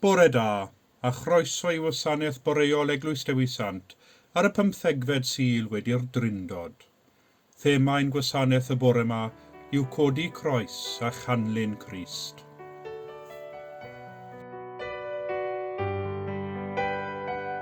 Bore da, a chroeso i Wasanaeth Boreol Eglwys Dewi Sant ar y pymthegfed Sul wedi'r Drindod. Thema ein gwasanaeth y bore 'ma yw Codi Croes a Chanlyn Crist.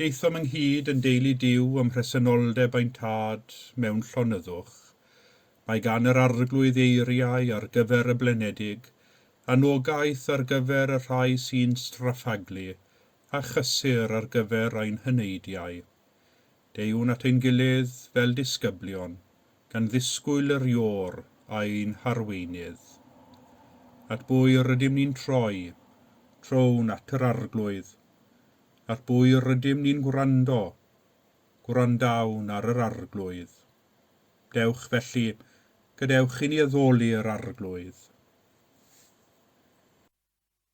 Daethom ynghyd yn deulu Duw ym mhresenoldeb ein Tad mewn llonyddwch. Mae gan yr Arglwydd eiriau ar gyfer y blinedig, anogaeth ar gyfer y rhai sy'n straffaglu, a chysur ar gyfer ein heneidiau. deuwn at ein gilydd fel disgyblion gan ddisgwyl yr Iôr ein harweinydd. At bwy yr ydym ni'n troi? Trown at yr Arglwydd. At bwy yr ydym ni'n gwrando? Gwrandawn ar yr Arglwydd. Dewch, felly, gadewch i ni addoli yr Arglwydd.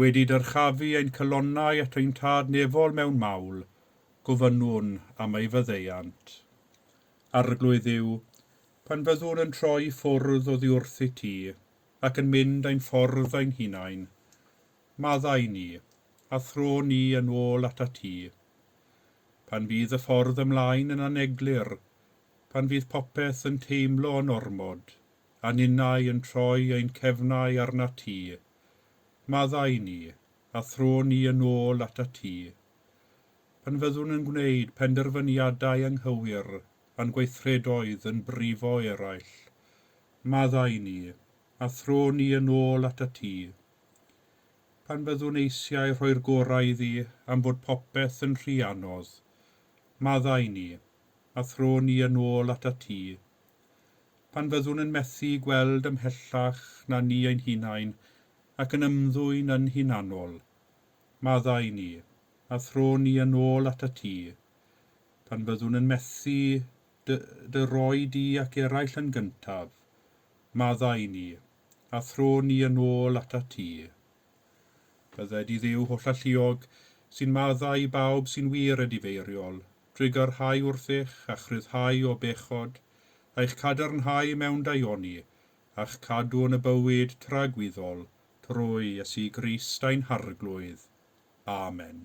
Wedi dyrchafu ein calonnau at ein Tad nefol mewn mawl, gofynnwn am ei faddeuant. Arglwydd Dduw, pan fyddwn yn troi i ffwrdd oddiwrthyd Ti, ac yn mynd ein ffordd ein hunain, maddau i ni, a thro ni yn ôl atat Ti. Pan fydd y ffordd ymlaen yn aneglur, pan fydd popeth yn teimlo yn ormod, a ninnau yn troi ein cefnau arnat ti. Maddau ni, a thro ni yn ôl atat ti. Pan fyddwn yn gwneud penderfyniadau anghywir a'n gweithredoedd yn brifo eraill, maddau ni, a thro ni yn ôl atat ti. Pan fyddwn eisiau rhoi'r gorau iddi am fod popeth yn rhy anodd, maddau ni, a thro ni yn ôl atat ti. pan fyddwn yn methu gweld ymhellach na ni ein hunain ac yn ymddwyn yn hunanol, maddau ni, a thro ni yn ôl atat ti, pan fyddwn yn methu dy, dy roi di ac eraill yn gyntaf, maddau ni, a thro ni yn ôl atat ti. Bydded i Dduw hollalluog, sy'n maddau i bawb sy'n wir a difeiriol, drwy gyrhau wrthych a'ch rhyddhau o bechod, a'ch cadarnhau mewn daioni, a'ch cadw yn y bywyd tragwyddol, trwy Iesu Grist ein Harglwydd. Amen.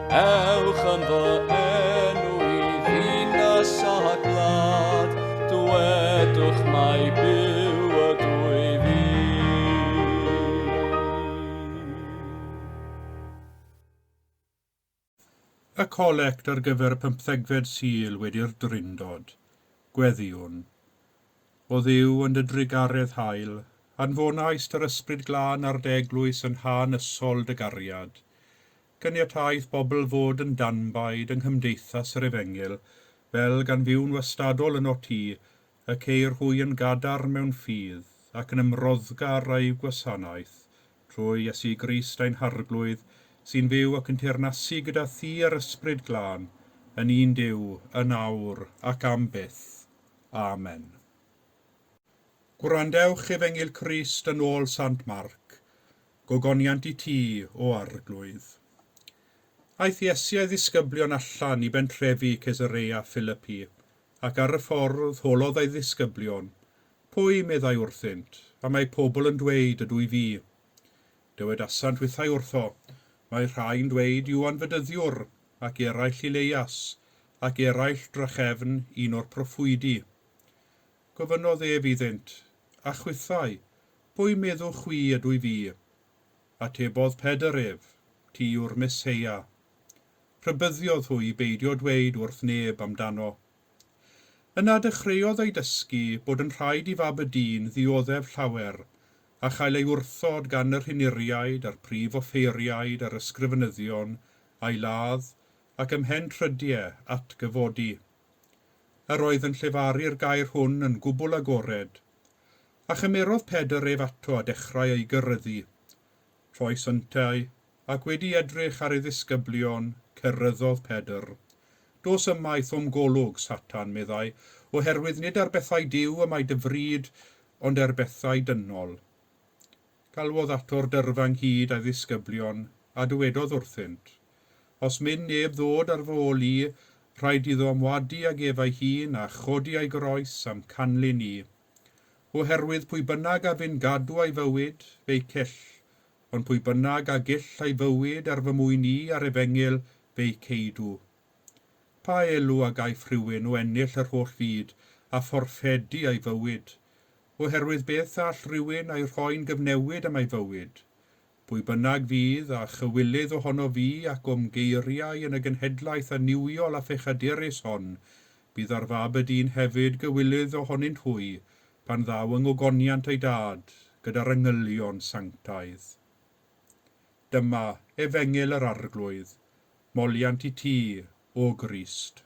Ewch yn fy enw i ddinas a glad, dwedwch mai byw y dwy fi. Y colect ar gyfer y pymthegfed Sul wedi'r Drindod, Gweddïwn. O Dduw yn dy drugaredd hael, anfonaist yr Ysbryd Glân ar dy eglwys yn hanesyl dy gariad. Caniataeth bobl fod yn danbaid yng nghymdeithas yr efengyl, fel gan fyw'n wastadol yno ti, y ceir hwy yn gadarn mewn ffydd, ac yn ymroddgar â'u gwasanaeth, trwy Iesu Grist ein Harglwydd, sy'n fyw ac yn teyrnasu gyda thi a'r Ysbryd Glân, yn un Duw, yn awr ac am byth. Amen. Gwrandewch efengyl Crist yn ôl Sant Marc. gogoniant i ti, O Arglwydd. Aeth Iesu a'i ddisgyblion allan i bentrefi Cesareia Philipi, ac ar y ffordd holodd ei ddisgyblion, Pwy, meddai wrthynt, y mae pobl yn dweud ydw i fi? Dywedasant withau wrtho, Mae rhai'n dweud Iwan Fedyddiwr, ac eraill Ileias, ac eraill drachefn un o'r proffwydi. Gofynnodd ef iddynt, A chwithau, Pwy meddwch chwi ydw i fi? Atebodd Pedr ef, Ti yw'r Meseia. Rhybuddiodd hwy i beidio dweud wrth neb amdano. Yna dechreuodd ei dysgu bod yn rhaid i fab y dyn ddioddef llawer a chael ei wrthod gan y rhinuriaid a'r prif offeiriaid a'r ysgrifenyddion a'i ladd ac ymhen trydie atgyfodi. Yr oedd yn llefaru'r gair hwn yn gwbl agored. A chymerodd Pedr ef ato a dechrau ei gyrryddu. Rhoes yntau, ac wedi edrych ar ei ddisgyblion, cyrryddodd Pedr. Dos ymaith o'm golwg, Satan, meddai, oherwydd nid ar bethau Duw y mae dy fryd, ond er bethau dynol. Galwodd ato'r dyrfa ynghyd a'i ddisgyblion, a dywedodd wrthynt, Os myn neb ddod ar fy ol i, rhaid iddo ymwadu ag ef ei hun a chodi ei groes a'm canlyn i. Oherwydd pwy bynnag a fyn gadw a'i fywyd, fe'i cyll, ond pwy bynnag a gyll a'i fywyd ar fy mwyn i a'r efengyl, fe'i ceidw. Pa elw a gaiff rhywun o ennill yr holl fyd, a phorffedi a'i fywyd? Oherwydd beth all rywun a'i rhoi'n gyfnewid am ei fywyd? Pwy bynnag fydd â chywilydd ohono fi ac o'm geiriau yn y genhedlaeth annuwiol a phechaderus hon, bydd ar fab y dyn hefyd gywilydd ohonynt hwy, pan ddaw yng ngogoniant ei dad, gyda'r angylion sanctaidd. Dyma, efengyl yr Arglwydd, moliant i ti, O Grist.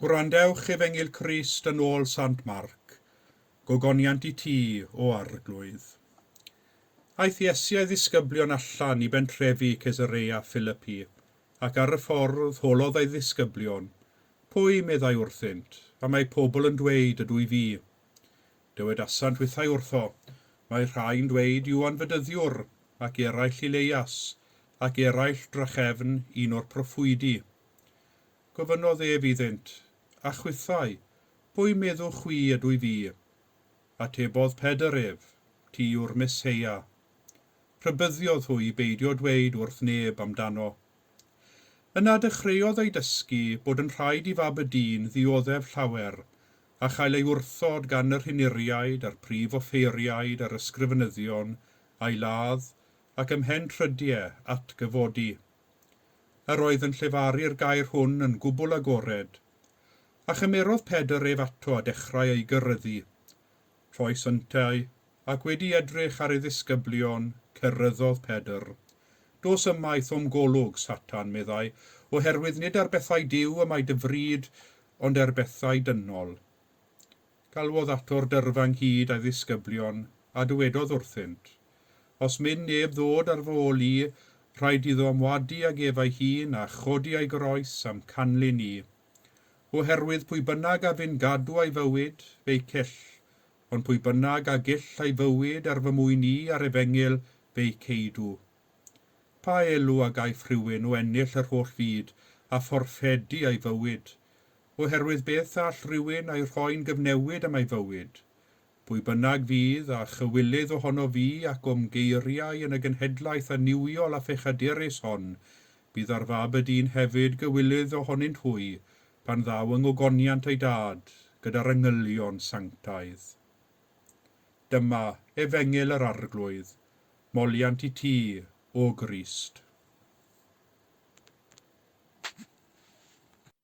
Gwrandewch Efengyl Crist yn ôl Sant Marc, Gogoniant i ti, O Arglwydd. Aeth Iesu a'i ddisgyblion allan i bentrefi Cesareia Philipi, ac ar y ffordd holodd ei ddisgyblion, Pwy, meddai wrthynt, y mae pobl yn dweud ydw i fi? Dywedasant withau wrtho, Mae rhai'n dweud Iwan Fedyddiwr, ac eraill Ileias, ac eraill drachefn un o'r proffwydi. Gofynnodd ef iddynt, A chwithau, pwy meddwch chwi ydw i fi? Atebodd Pedr ef, Ti yw'r Meseia. Rhybuddiodd hwy i beidio dweud wrth neb amdano. Yna dechreuodd ei dysgu bod yn rhaid i fab y dyn ddioddef llawer, a chael ei wrthod gan yr hinuriaid a'r prif offeiriaid a'r ysgrifenyddion, a'i ladd, ac ymhen trydie, atgyfodi. Yr oedd yn llefaru'r gair hwn yn gwbl agored. A chymerodd Pedr ef ato a dechrau ei gyrryddu. Rhoes yntau, ac wedi edrych ar ei ddisgyblion, cerryddodd Pedr. Dos ymaith o'm golwg, Satan, meddai, oherwydd nid ar bethau Duw y mae dy fryd, ond er bethau dynol. Galwodd ato'r dyrfa ynghyd a'i ddisgyblion, a dywedodd wrthynt, Os myn neb ddod ar fy ol i, rhaid iddo ymwadu ag ef ei hun, a chodi ei groes, a'm canlyn i. Oherwydd pwy bynnag a fyn gadw ei fywyd, fe'i cyll, ond pwy bynnag a gyll ei fywyd er fy mwyn i a'r efengyl, fe'i ceidw. Pa elw a gaiff rhywun o ennill yr holl fyd, a phorffedi ei fywyd? oherwydd beth all rhywun a'i rhoi'n gyfnewid am ei fywyd, pwy bynnag fydd â chywilydd ohono fi ac o'm geiriau yn y genhedlaeth annuwiol a phechadurus hon, bydd ar fab y dyn hefyd gywilydd ohonynt hwy, pan ddaw yng ngogoniant ei dad, gyda'r angylion sanctaidd. Dyma, Efengyl yr Arglwydd, moliant i ti, O Grist.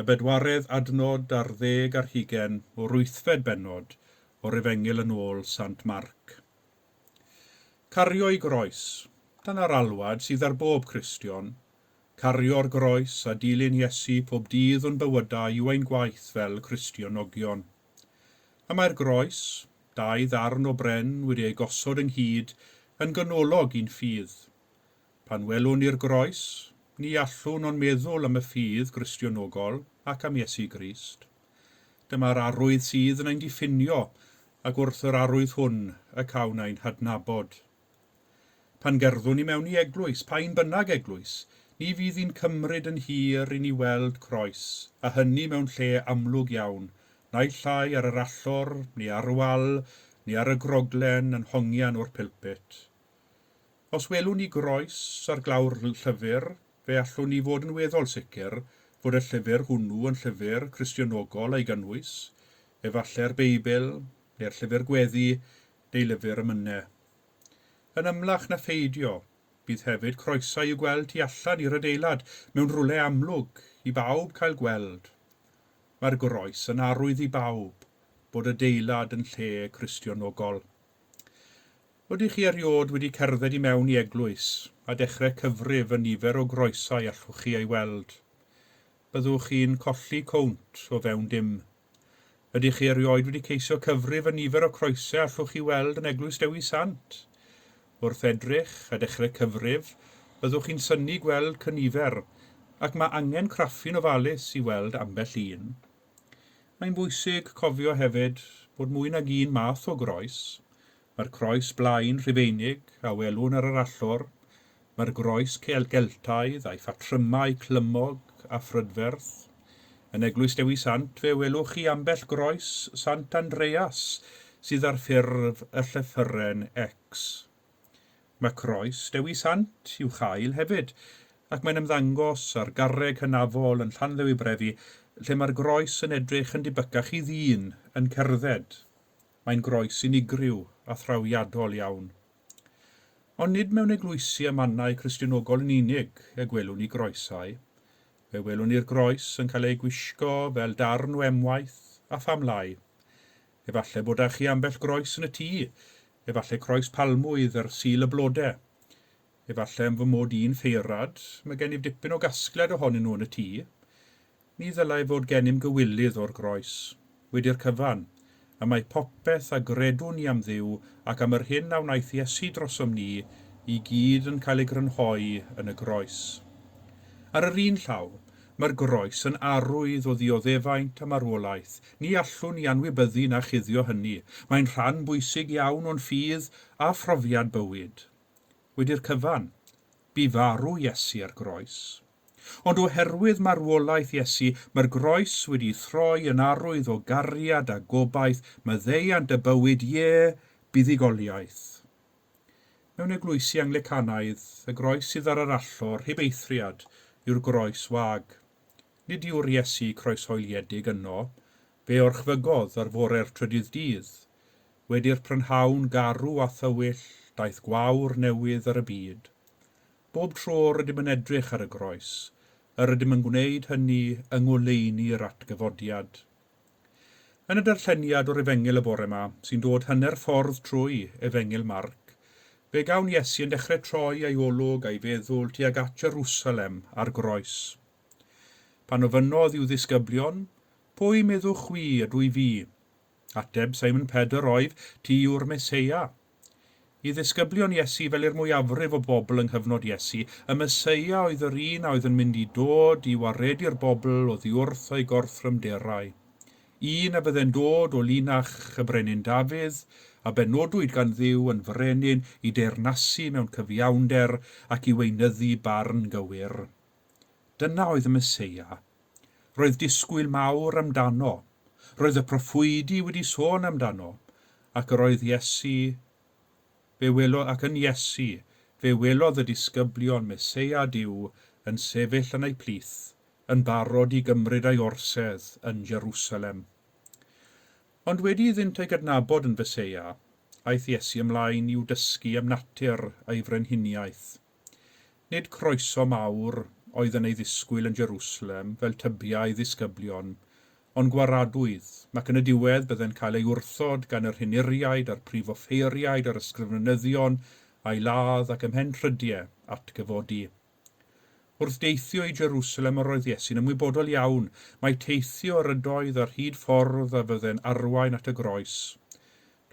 y bedwaredd adnod ar ddeg ar hugain o'r wythfed bennod o'r Efengyl yn ôl Sant Marc. Cario'i groes, dyna'r alwad sydd ar bob Cristion, cario'r groes a dilyn Iesu pob dydd o'n bywydau yw ein gwaith fel Cristionogion. Y mae'r groes, dau ddarn o bren wedi eu gosod ynghyd, yn ganolog i'n ffydd. Pan welwn ni'r groes, ni allwn ond meddwl am y ffydd Gristionogol ac am Iesu Grist. Dyma'r arwydd sydd yn ein diffinio, ac wrth yr arwydd hwn y cawn ein hadnabod. Pan gerddwn ni mewn i eglwys, pa un bynnag eglwys, ni fydd hi'n cymryd yn hir i ni weld croes, a hynny mewn lle amlwg iawn, naill ai ar yr allor, neu ar y wal, neu ar y groglen, yn hongian o'r pulpit. Os welwn ni groes ar glawr llyfr, fe allwn ni fod yn weddol sicr fod y llyfr hwnnw yn llyfr Cristionogol a'i gynnwys, efallai'r Beibl, neu'r Llyfr Gweddi, neu lyfr y Myne. Yn ymlach na pheidio, bydd hefyd croesau i'w gweld tu allan i'r adeilad mewn rwle amlwg i bawb cael gweld. Mae'r groes yn arwydd i bawb bod adeilad yn lle Cristionogol. Ydych chi erioed wedi cerdded i mewn i eglwys a dechrau cyfrif y nifer o groesau allwch chi ei weld? Byddwch chi'n colli cownt o fewn dim. Ydych chi erioed wedi ceisio cyfrif y nifer o croesau allwch chi weld yn Eglwys Dewi Sant? Wrth edrych a dechrau cyfrif, byddwch chi'n synnu gweld cynifer, ac mae angen craffu'n ofalus i weld ambell un. Mae'n bwysig cofio hefyd bod mwy nag un math o groes, mae'r croes blaen Rhufeinig a welwn ar yr allor, mae'r groes Celtaidd a'i phatrymau clymog a phrydferth. Yn Eglwys Dewi Sant fe welwch chi ambell groes Sant Andreas sydd ar ffurf y llythyren X. Mae croes Dewi Sant i'w chael hefyd, ac mae'n ymddangos ar garreg hynafol yn Llanddewi-brefi lle mae'r groes yn edrych yn dibycach i ddyn yn cerdded. Mae'n groes unigryw a thrawiadol iawn. Ond nid mewn eglwysi a mannau Cristionogol yn unig y gwelwn ni groesau. Fe welwn ni'r groes yn cael ei gwisgo fel darn o emwaith a phamlau. Efallai bod â chi ambell groes yn y tŷ, efallai croes palmwydd ar Sul y Blode. Efallai am fy mod i'n ffeirad, mae gennyf dipyn o gasgliad ohonyn nhw yn y tŷ. Ni ddylai fod gennym gywilydd o'r groes. Wedi'r cyfan, y mae popeth a gredwn ni am Dduw ac am yr hyn a wnaeth Iesu drosom ni i gyd yn cael ei grynhoi yn y groes. Ar yr un llaw, Mae'r groes yn arwydd o ddioddefaint a marwolaeth. Ni allwn ni anwybyddu na chuddio hynny. Mae'n rhan bwysig iawn o'n ffydd a phrofiad bywyd. Wedi'r cyfan, bu farw Iesu ar groes. Ond oherwydd marwolaeth Iesu, mae'r groes wedi'i throi yn arwydd o gariad a gobaith, maddeuant a bywyd, ie, buddugoliaeth. Mewn eglwysi Anglicanaidd, y groes sydd ar yr allor heb eithriad yw'r groes wag. Nid yw'r Iesu croeshoeliedig yno, fe orchfygodd ar fore'r trydydd dydd. Wedi'r prynhawn garw a thywyll, daeth gwawr newydd ar y byd. Bob tro rydym yn edrych ar y groes, yr ydym yn gwneud hynny yng ngoleuni yr atgyfodiad. Yn y darlleniad o'r Efengyl y bore 'ma, sy'n dod hanner ffordd trwy Efengyl Marc, fe gawn Iesu yn dechre troi ei olwg a'i feddwl tuag at Jerusalem a'r groes. Pan ofynnodd i'w ddisgyblion, Pwy meddwch chwi ydw i fi? Ateb Simon Pedr oedd, Ti yw'r Meseia. I ddisgyblion Iesu, fel i'r mwyafrif o bobl yng nghyfnod Iesu, y Meseia oedd yr un a oedd yn mynd i dod i waredu'r bobl oddiwrth ei gorthrymderau. Un a fydde'n dod o linach y Brenin Dafydd, a benodwyd gan Dduw yn frenin i deyrnasu mewn cyfiawnder ac i weinyddu barn gywir. Dyna oedd y Meseia. Roedd disgwyl mawr amdano. Roedd y proffwydi wedi sôn amdano. Ac yr oedd Iesu, fe welodd, ac yn Iesu, fe welodd y disgyblion Meseia Duw yn sefyll yn eu plith, yn barod i gymryd ei orsedd yn Jerusalem. Ond wedi iddynt ei gydnabod yn Feseia, aeth Iesu ymlaen i'w dysgu am natur ei frenhiniaeth. Nid croeso mawr oedd yn ei ddisgwyl yn Jerusalem fel tybia ei ddisgyblion, ond gwaradwydd, ac yn y diwedd byddai'n cael ei wrthod gan yr hunuriaid a'r prif offeiriaid a'r ysgrifenyddion a'i ladd ac ymhen rhydie atgyfodi. Wrth deithio i Jerusalem yr oedd Iesu'n ymwybodol iawn mai teithio yr ydoedd ar hyd ffordd a fydde'n arwain at y groes.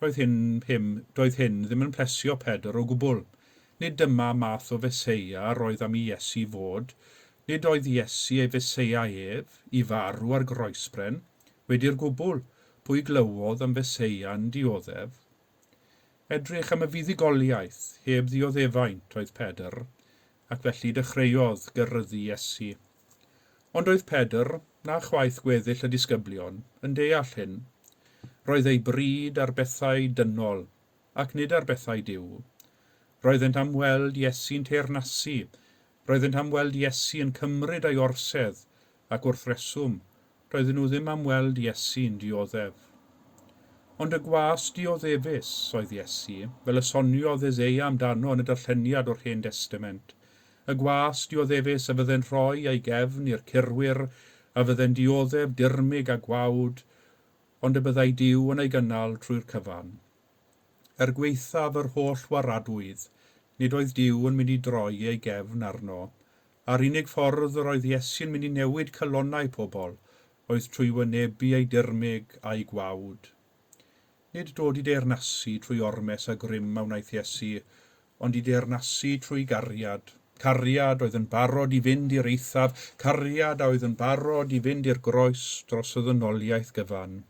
Doedd hyn him, doedd hyn ddim yn plesio Pedr o gwbl. Nid dyma math o Feseia yr oedd am i Iesu fod. Nid oedd Iesu ei Feseia ef, i farw ar groesbren. Wedi'r gwbl, pwy glywodd am Feseia yn dioddef? Edrych am y fuddugoliaeth, heb ddioddefaint, oedd Pedr, ac felly dechreuodd gyrryddu Iesu. Ond oedd Pedr, na chwaith gweddill y disgyblion, yn deall hyn. Roedd ei bryd ar bethau dynol, ac nid ar bethau Duw. Roeddent am weld Iesu'n teyrnasu, roeddent am weld Iesu yn cymryd ei orsedd, ac wrth reswm, Doedden nhw ddim am weld Iesu'n dioddef. Ond y gwas dioddefus oedd Iesu, fel y soniodd Eseia amdano yn y darlleniad o'r Hen Destament, y gwas dioddefus a fydde'n rhoi ei gefn i'r curwyr a fydde'n dioddef dirmyg a gwawd, ond y byddai Duw yn ei gynnal trwy'r cyfan. Er gwaethaf yr holl waradwyd, nid oedd Duw yn mynd i droi ei gefn arno. A'r unig ffordd yr oedd Iesu'n mynd i newid calonnau pobl oedd trwy wynebu ei dirmyg a'i gwawd. Nid dod i deyrnasu trwy ormes a grym a wnaeth Iesu, ond i deyrnasu trwy gariad. Cariad oedd yn barod i fynd i'r eithaf, cariad a oedd yn barod i fynd i'r groes dros y ddynoliaeth gyfan.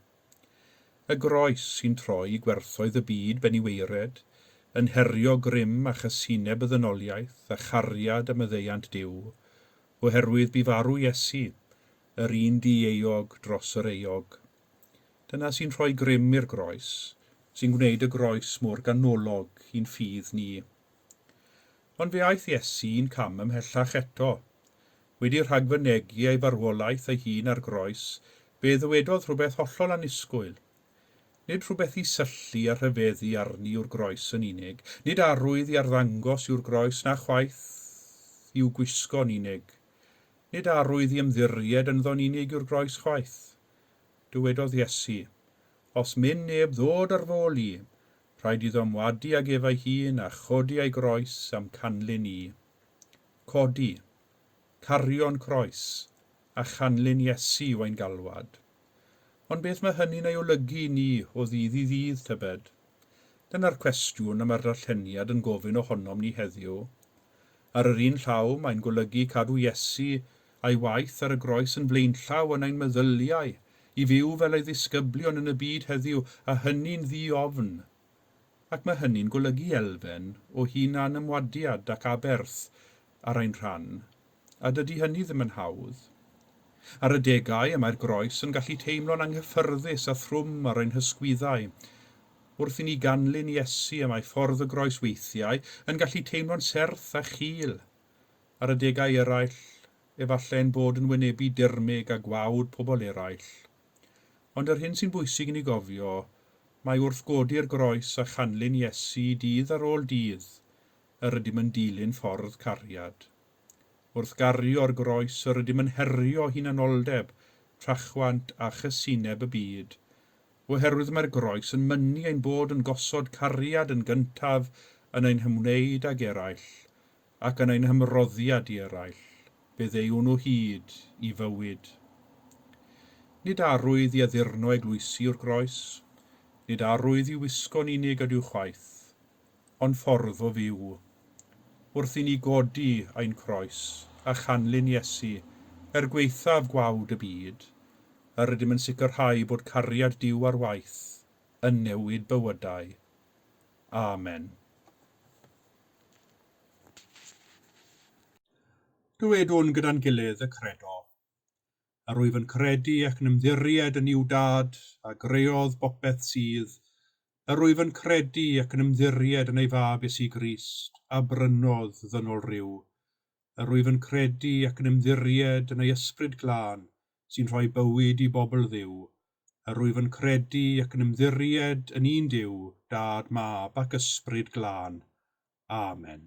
Y groes sy'n troi gwerthoedd y byd ben i waered, yn herio grym a chasineb y ddynoliaeth a chariad a maddeuant Duw, oherwydd bu farw Iesu, yr un di-euog dros yr euog. Dyna sy'n rhoi grym i'r groes, sy'n gwneud y groes mor ganolog i'n ffydd ni. Ond fe aeth Iesu un cam ymhellach eto. wedi rhagfynegi ei farwolaeth ei hun ar groes, fe ddywedodd rhywbeth hollol annisgwyl. Nid rhywbeth i syllu a rhyfeddu arni yw'r groes yn unig, nid arwydd i arddangos yw'r groes na chwaith i'w gwisgo'n unig. Nid arwydd i ymddiried ynddo'n unig yw'r groes chwaith. Dywedodd Iesu, Os myn neb ddod ar f'ôl i, rhaid iddo ymwadu ag ef ei hun a chodi ei groes a'm canlyn i. Codi, cario'n croes, a chanlyn Iesu yw ein galwad. Ond beth mae hynny'n ei olygu i ni o ddydd i ddydd, tybed? Dyna'r cwestiwn y mae'r darlleniad yn gofyn ohonom ni heddiw. Ar yr un llaw, mae'n golygu cadw Iesu a'i waith ar y groes yn flaenllaw yn ein meddyliau, i fyw fel ei ddisgyblion yn y byd heddiw, a hynny'n ddi-ofn, ac mae hynny'n golygu elfen o hunan-ymwadiad ac aberth ar ein rhan, a dydy hynny ddim yn hawdd. Ar adegau y mae'r groes yn gallu teimlo'n anghyffyrddus a thrwm ar ein hysgwyddau. Wrth i ni ganlyn Iesu y mae ffordd y groes weithiau yn gallu teimlo'n serth a chul. Ar adegau eraill, efallai ein bod yn wynebu dirmyg a gwawd pobl eraill. Ond yr hyn sy'n bwysig i ni gofio, mai wrth godi'r groes a chanlyn Iesu dydd ar ôl dydd, yr ydym yn dilyn ffordd cariad. Wrth gario'r groes yr ydym yn herio hunanoldeb, trachwant a chysineb y byd, oherwydd mae'r groes yn mynnu ein bod yn gosod cariad yn gyntaf yn ein hymwneud ag eraill, ac yn ein hymroddiad i eraill, fe ddeuwn nhw hyd i fywyd. Nid arwydd i addurno eglwysi yw'r groes, nid arwydd i'w wisgo'n unig ydyw chwaith, ond ffordd o fyw. Wrth i ni godi ein croes a chanlyn Iesu er gwaethaf gwawd y byd, yr ydym yn sicrhau bod cariad Duw ar waith yn newid bywydau. Amen. Dywedwn gyda'n gilydd y Credo. Yr wyf yn credu ac yn ymddiried yn Iw Dad, a greodd bopeth sydd. Yr wyf yn credu ac yn ymddiried yn ei Fab Iesu Grist, a brynodd ddynol ryw. Yr wyf yn credu ac yn ymddiried yn ei Ysbryd Glân sy'n rhoi bywyd i bobl Dduw. Yr wyf yn credu ac yn ymddiried yn un Duw, Dad, Mab, ac Ysbryd Glân. Amen.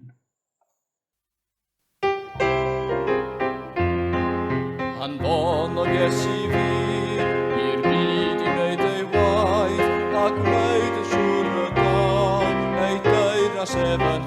Anfonodd Iesu fi i'r byd i wneud ei waith ac wneud y siŵr y gall ei deyrnas ef yn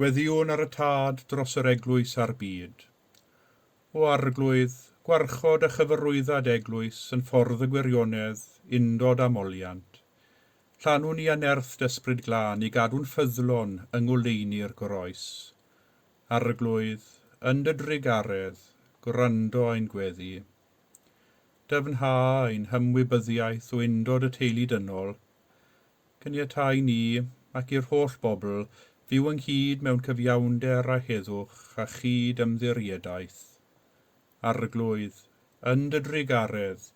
Gweddïwn ar y tad dros yr eglwys a'r byd. O arglwydd, gwarchod a chyfarwydda dy eglwys yn ffordd y gwirionedd, undod a moliant. Llanw ni â nerth d'Ysbryd Glân i gadw'n ffyddlon yng ngoleuni'r Groes. Arglwydd, yn dy drugaredd, gwrando ein gweddi. Dyfnha ein hymwybyddiaeth o undod y teulu dynol. Caniata i ni, ac i'r holl bobl, fyw ynghyd mewn cyfiawnder a heddwch a chyd ymddiriedaeth. Arglwydd, yn dy drugaredd,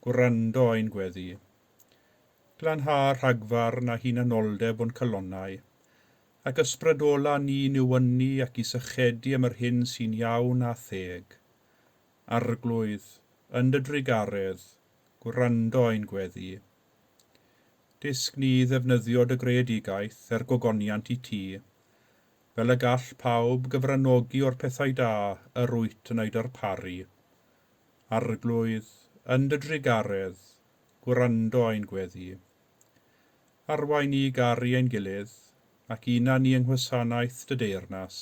gwrando ein gweddi. Glanha rhagfarn a hunanoldeb o'n calonnau, ac ysbrydolâ ni i newynu ac i sychedu am yr hyn sy'n iawn a theg. Arglwydd, yn dy drugaredd, gwrando ein gweddi. Dysg ni i ddefnyddio dy greadigaeth er gogoniant i ti, fel y gall pawb gyfranogi o'r pethau da yr wyt yn eu darparu. Arglwydd, yn dy drugaredd, gwrando ein gweddi. Arwain ni i garu ein gilydd ac unan ni yng nghwasanaeth dy deyrnas.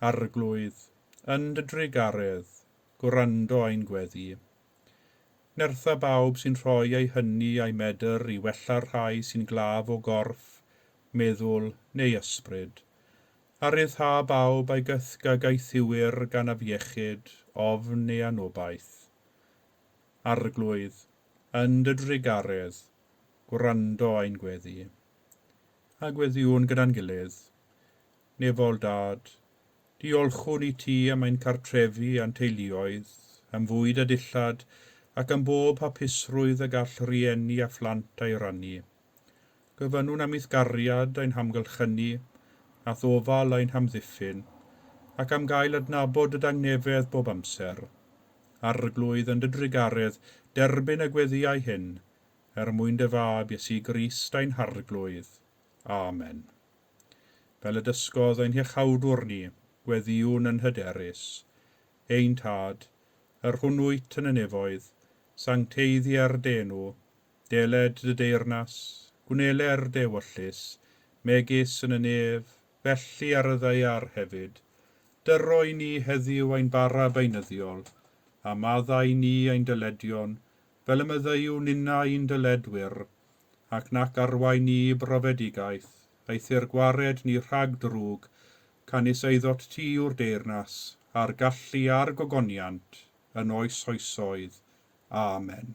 Arglwydd, yn dy drugaredd, gwrando ein gweddi. Nertha bawb sy'n rhoi eu hynny a'u medr i wella'r rhai sy'n glaf o gorff, meddwl neu ysbryd. A rhyddha bawb a gythga gaethiwir gan afiechyd, ofn neu anobaith. Arglwydd, yn dy drugaredd, gwrando a i'n gweddi. A gweddiwn gyda'n gilydd. Nefol, Dad, diolchwn i ti am ein cartrefi a'n teuluoedd, am fwyd a dillad, ac am bob hapusrwydd y gall rhieni a phlant a'i rannu. Gofynnwn am ithgariad ein hamgylchynu, a thofal ein hamddiffyn, ac am gael adnabod dy dangnefedd bob amser. Arglwydd yn dy drugaredd, derbyn y gweddïau hyn, er mwyn dy Fab, Iesu Grist, ein Harglwydd. Amen. Fel y dysgodd ein Hiachawdwr ni, gweddïwn yn hyderus. Ein Tad, yr hwn wyt yn y nefoedd, sancteiddier dy enw, deled dy deyrnas, gwnele'r dewyllys, megis yn y nef, felly ar y ddaear hefyd, dyro i ni heddiw ein bara beunyddiol, a madda i ni ein dyledion, fel y meddeuwn inna i'n dyledwyr, ac nac arwain ni i brofedigaeth, eithr gwared ni rhag drwg, canys eiddot ti yw'r deyrnas, a'r gallu a'r gogoniant, yn oes oesoedd. Amen.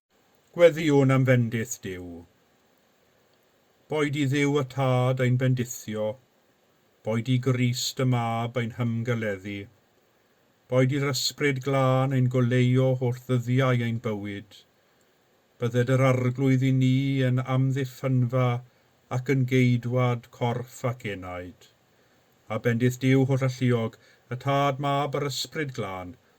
Gweddïwn am fendith Duw. Boed i Dduw y Tad ein bendithio, boed i Grist y Mab ein hymgeleddu, boed i'r Ysbryd Glân ein goleuo holl ddyddiau ein bywyd, bydded yr Arglwydd i ni yn amddiffynfa ac yn geidwad corff ac enaid. A bendith Duw holl alluog, y Tad, Mab a'r Ysbryd Glân,